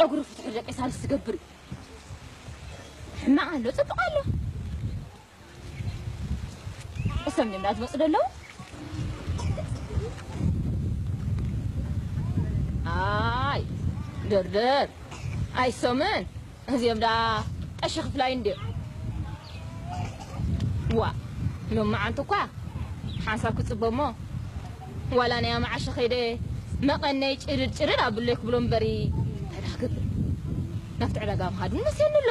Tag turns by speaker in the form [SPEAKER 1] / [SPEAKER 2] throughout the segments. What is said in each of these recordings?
[SPEAKER 1] ጨጉሪ ፍትሑ ደቂ ሳልስ ዝገብር እዩ ሕማቕ ኣሎ ፅቡቕ ኣሎ እሰም ድምዳ ዝመፁ ደለዉ ኣይ ድርድር ኣይሶምን እዚኦም ዳ ቀሺ ክፍላይ እንድዮ ዋ ሎም መዓንቲ እኳ ሓንሳብ ክፅበ እሞ ዋላ ናይ ኣማዓሸ ከይደ መቐነይ ጭርድ ጭርድ ኣብለይ ክብሎ እምበሪ እንታይ ዳ ክብል ናብቲ ዕዳጋ ምኻድ ውን መሲኒ ኣሎ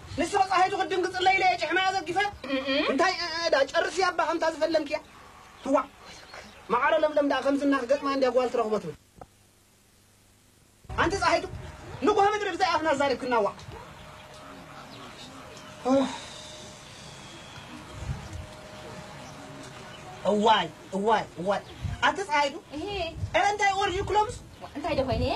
[SPEAKER 2] ንሳ ጻሂቱ ክትድንግጽለይ ኢለ እየ ጭሕማያ ዘርጊፈ። እንታይ እዕዕዳ ጨርሲ ኣባ ከምታ ዝፈለምክያ ትዋዕ መዓረ ለምለም ደኣ ከምዚ እና ክገጥማ እንድያ ጓል ትረኽቦ ትብል። ኣንቲ ጻሂቱ ንጉሆ ምድሪ ብዘይ ኣፍና ኣዛሪብክና ዋእ ኡፍ። እዋይ እዋይ እዋይ ኣቲ ጻሂቱ እረ እንታይ
[SPEAKER 1] ወርዩ
[SPEAKER 2] ክሎምስ እንታይ ዶ ኮይነ እየ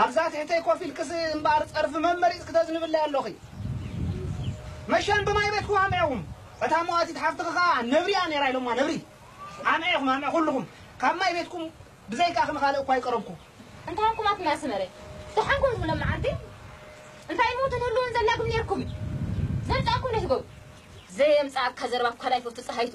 [SPEAKER 2] ኣብዛ ትሕተይ ኮፍ ኢልክስ እምበኣር ጸርፊ መመሪጽ ክተዝንብለይ ኣሎኺ። መሸን ብማይ ቤትኩ ኣምዔኹም። እታ መዋቲት ሓፍትኺ ከኣ ነብሪ'ያ ነይራ ኢሎማ ነብሪ። ኣምዔ ኢኹም ኣምዔ ኩሉኹም። ካብ ማይ ቤትኩም ብዘይካኺ ንኻልእ እኳ ኣይቀረብኩ። እንታይ ኾንኩም ኣቱም
[SPEAKER 1] ናይ ኣስመረ ደሓን ኮንኩም ሎምዓንቲ እንታይ እሞ ተትህልዉን ዘላግም ኔርኩም ዘምጻእኩም ነቲ ጎብ ዘየምጻኣካ ዘረባ ኳል ኣይፈቱ ጸሃይቱ።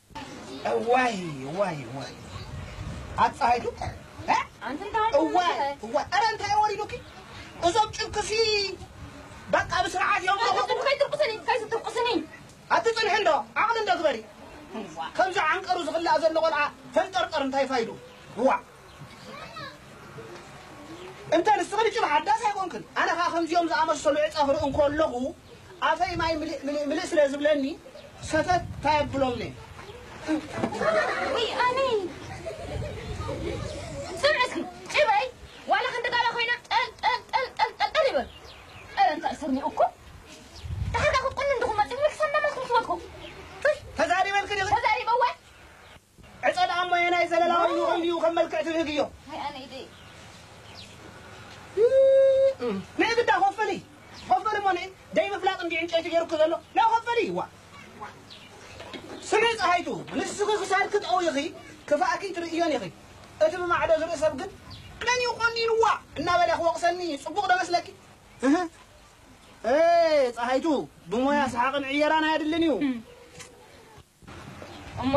[SPEAKER 1] እዋይ
[SPEAKER 2] እዋይ እዋይ ኣፀሃይቱ
[SPEAKER 1] እዋይ እዋይ ኧረ እንታይ
[SPEAKER 2] ወሪዱኪ እዞም ጭብክሲ በቃ ብስርዓት እዮም
[SPEAKER 1] ኣትፅንሒ እንዶ
[SPEAKER 2] ዓቕሊ እንዶ ግበሪ ከምዚ ዓንቀሩ ዝኽላእ ዘሎ ቆልዓ ፈንጠርጠር እንታይ ፋይዱ እዋዕ እንተ ንስኽን ጭም ሓዳስ ኣይኮንክን ኣነ ከኣ ከምዚኦም ዝኣመሰሉ ዕጸ ክርኢ እንከለኹ ኣፈይ ማይ ምልእ ምልእ ምልእ ስለ ዝብለኒ ሰተት ታይ
[SPEAKER 1] ኣብሎምኔ ዕጸ
[SPEAKER 2] ደኣሞ ኣየናይ ዘለላ ወይኒ ኮይኑ እዩ ከም መልክዕ ትብህግ እዮ።
[SPEAKER 1] ሃይ
[SPEAKER 2] ኣነ ኢደይ ንዒ ግዳ ኮፍሊ ኮፍሊ እሞ ንዒ ደይ ምፍላጥ እንድዩ ዕንጨይቲ ገይሩኪ ዘሎ ናይ ኮፍሊ ዋእ ስምዒ ጸሃይቱ ንስኺ ክሳድኪ ጠዊኺ ክፋእኪ ትርእዮን ኢኺ እቲ ብማዕዶ ዝርኢ ሰብ ግን መን እዩ ቆኒንዋ እናበለ ክወቕሰኒ ጽቡቕ ዶ መስለኪ እህ ኤ ጸሃይቱ ብሞያ ሰሓቕን ዕየራን ኣየድልን እዩ።
[SPEAKER 1] እሞ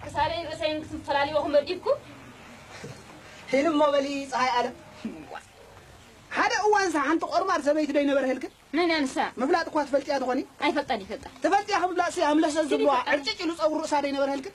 [SPEAKER 1] ክሳደይን ርእሰይን ክትፈላልይዎኹም መዲብኩም?
[SPEAKER 2] ሂን እሞ በሊ ፀሃይ ኣለም። ዋእ! ሓደ እዋንሰ ሓንቲ ቆርማድ ሰበይቲ ዶ ኣይነበረህልክን? መን እያ ንሳ?
[SPEAKER 1] ምፍላጥ እኳ ትፈልጥያ
[SPEAKER 2] ትኾኒ? ኣይፈልጣን ይፈልጣ።
[SPEAKER 1] ትፈልጥያ ክምፍላጥሲ
[SPEAKER 2] ኣምለሰት ዝብልዋ ዕርጭጭ ኢሉ ፀጉሪ ርእሳ ዶ ኣይነበረህልክን?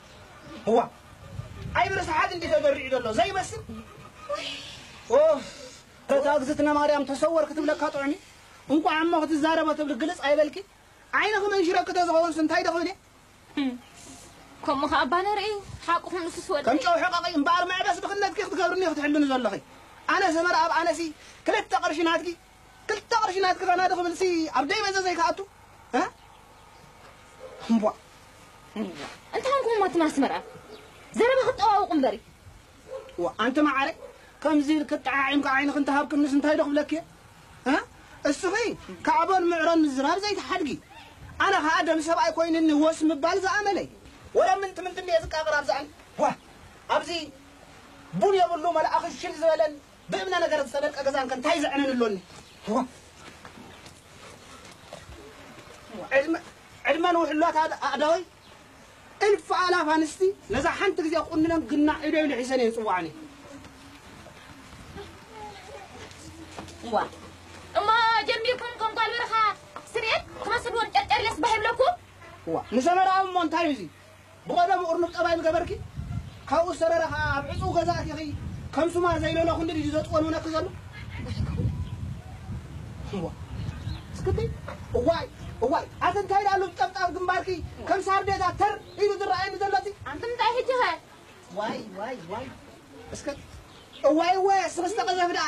[SPEAKER 2] እዋእ ኣይብርስሓት እንዲዩ ተዘሪዑ ዘሎ ዘይመስል ኡፍ እታ እግዝእትነ ማርያም ተሰወር ክትብለካ ጥዑም እዩ እንቋዕ እሞ ክትዛረቦ ትብሊ ግልጽ ኣይበልኪ ዓይንኺ መንሽረኪ ተዝኸውንስ እንታይ ዶ ክብል እየ
[SPEAKER 1] ከምኡ ከ ኣባ ነርኢ ሓቁኹም ንሱስ ወዲ ከም ጨው ሕቐቒ እምበኣር
[SPEAKER 2] መዕበስ ድኽነትኪ ክትገብርኒ ክትሕልኒ ዘለኺ ኣነ ሰመረ ኣብ ኣነሲ ክልተ ቅርሺ ናትኪ ክልተ ቅርሺ ናትኪ ፈናዲ ክብል ሲ ኣብ ደይ በዘ ዘይክኣቱ እ እምቧ
[SPEAKER 1] እንታይ ኣልኩም ማትም ኣስመራ ዘረባ ክጠዋውቁ እምበሪ ዋ
[SPEAKER 2] ኣንቲ ማዓረ ከምዚ ኢልክ ጠዓዒምካ ዓይንክ እንተሃብክንስ እንታይ ዶ ክብለክ እየ እ እስኺ ካዕቦን ምዕሮን ምዝራብ ዘይትሓድጊ ኣነ ከዓ ደም ሰብኣይ ኮይንኒ ወስ ምባል ዝኣመለይ ወላ ምንት ምንት እየ ዝቃቕር ኣብዝኣን ዋ ኣብዚ ቡን የብሉ መልኣኽ ሽል ዝበለን ብእምነ ነገር ዝተበልቀ ገዛን ከ እንታይ ዘዕነን ኣሎኒ? እዋ ዕድመ ዕድመ ንውሕሏት ኣድ- ኣእዳወይ እልፊ ኣእላፍ ኣንስቲ ነዛ ሓንቲ ግዜ ክቑንነን ግናዕ ኢደይ ልሒሰን እየን ጽዋዕኒ። እዋ
[SPEAKER 1] እሞ ጀሚርኩም ከም ጓል በረኻ ስርየት ክመስልዎን ጨርጨርየስ ባህ ይብለኩም? እዋ ንሰመራዊ
[SPEAKER 2] እሞ እንታይ እዩ እዚ? ብቐደሙ እርኑብ ጠባይ ምገበርኪ፣ ካብኡ ዝተረረ ከኣ ኣብ ዕጹው ገዛ ኣቲኺ ከም ሱማር ዘይለሎኹንዲ ድዩ ዘጥወንውነኪ ዘሎ? እዋይ እስክቲ እዋይ እዋይ ኣቲ እንታይ ደኣ ሉብ ጠብጣብ ግንባርኪ ከም ሳርዴታ ተር ኢሉ ዝረኣየኒ ዘሎ'ቲ ኣንቲ እንታይ ሕጂ ከ ዋይ
[SPEAKER 1] ዋይ
[SPEAKER 2] ዋይ እስከ እዋይ እወ እስኺ ዝተቐዘፊ ደኣ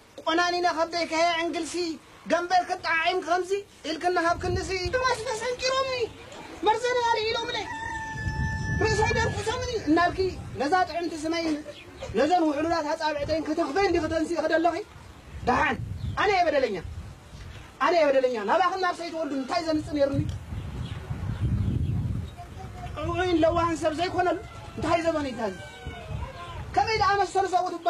[SPEAKER 2] ቆናኒነ
[SPEAKER 1] ከም
[SPEAKER 2] ዘይከሀ
[SPEAKER 1] ዕንግልሲ ገምበር
[SPEAKER 2] ክጠዓዒምኪ ከምዚ ኢልኪ እናሃብክኒሲ። ሕማስከ ሰንቂሮምኒ መርዘኒ ኣልዒሎምለይ ርእሰይ ደርፊሶምኒ እናልኪ ነዛ ጥዕምቲ ስመይን ነዘን ውሕሉላት ኣጻብዕተይን ክትኽፈይን ዲኺ ተንሲእኺ ደለኺ? ደሓን ኣነ'የ በደለኛ ኣነ'የ በደለኛ ናባኽን ናብ ሰይትወልዱ እንታይ ዘምጽእ ነይሩኒ ጥዑይን ለዋህን ሰብ ዘይኮነሉ እንታይ ዘበን'ዩ ታዚ ከመይ ደኣ መሰሉ ሰብኡት እባ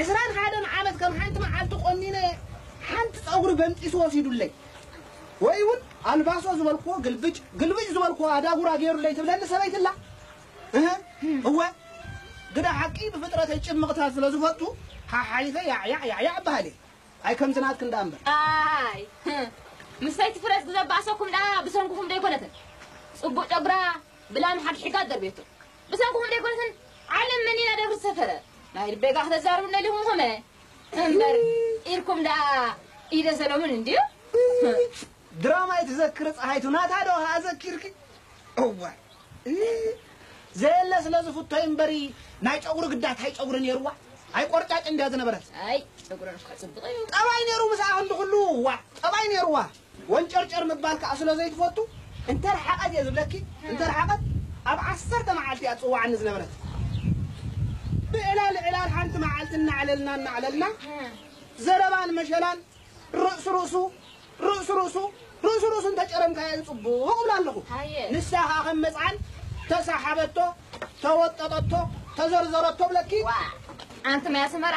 [SPEAKER 2] ዕስራን ሓደን ዓመት ከም ሓንቲ መዓልቲ ቆኒነ ሓንቲ ጸጉሪ በንጢሱ ወሲዱለይ ወይ ውን ኣልባሶ ዝበልክዎ ግልብጭ ግልብጭ ዝበልክዎ ኣዳጉራ ጌሩለይ ትብለኒ ሰበይቲ ኣላ እህ እወ ግዳ ሓቂ ብፍጥረተይ ጭምቕታት ስለ ዝፈቱ ሓሓሊፈ ያዕያዕ ያዕያዕ እበሃል እየ ኣይ ከምቲ ናትክን ደኣ እምበር ኣይ
[SPEAKER 1] ምስ ሰይቲ ፍረስ ግዘ ባእሰኩም ደኣ ብሰንኩኹም ዶ ኣይኮነትን ጽቡቕ ጨጉራ ብላም ሓግሒጋ ኣደርብየቶ ብሰንኩኹም ደይኮነትን ዓለም መኒና ደብሪ ዝሰፈረ ናይ ልበይ ጋር ክተዛርቡኒ ደሊኹም ኮመ እምበር ኢልኩም ደኣ ኢደ ሰሎሙን እንድዩ
[SPEAKER 2] ድራማይ ትዘክሪ ፀሃይቱ ናታ ዶ ኸዓ ዘኪርኪ እዋይ ዘየለ ስለ ዝፍቶ እምበሪ ናይ ጨጉሪ ግዳ ታይ ጨጉሪ ነይርዋ ኣይ ቆርጫጭ እንድያ ዝነበረት ኣይ ጨጉረን እኳ
[SPEAKER 1] ፅቡቕ እዩ ጠባይ ነይሩ ምስኣ ክንዲ
[SPEAKER 2] ኩሉ ዋ ጠባይ ነይርዋ ወንጨርጨር ምባል ከኣ ስለ ዘይትፈቱ እንተረሓቐት እየ ዝብለኪ እንተረሓቐት ኣብ ዓሰርተ መዓልቲ እያ ትጽውዓኒ ዝነበረት ብዕላል ዕላል ሓንቲ መዓልቲ እናዕለልና እናዕለልና ዘረባን መሸላን ርእሲ ርእሱ ርእሲ ርእሱ ርእሲ ርእሱ እንተጨረምካዮ ጽቡቕ እብላ ኣለኹ ንሳ ከኣ ከም መጽዓን ተሳሓበቶ ተወጠጠቶ ተዘርዘረቶ እብለኪ ኣንቲ ናይ
[SPEAKER 1] ኣስመራ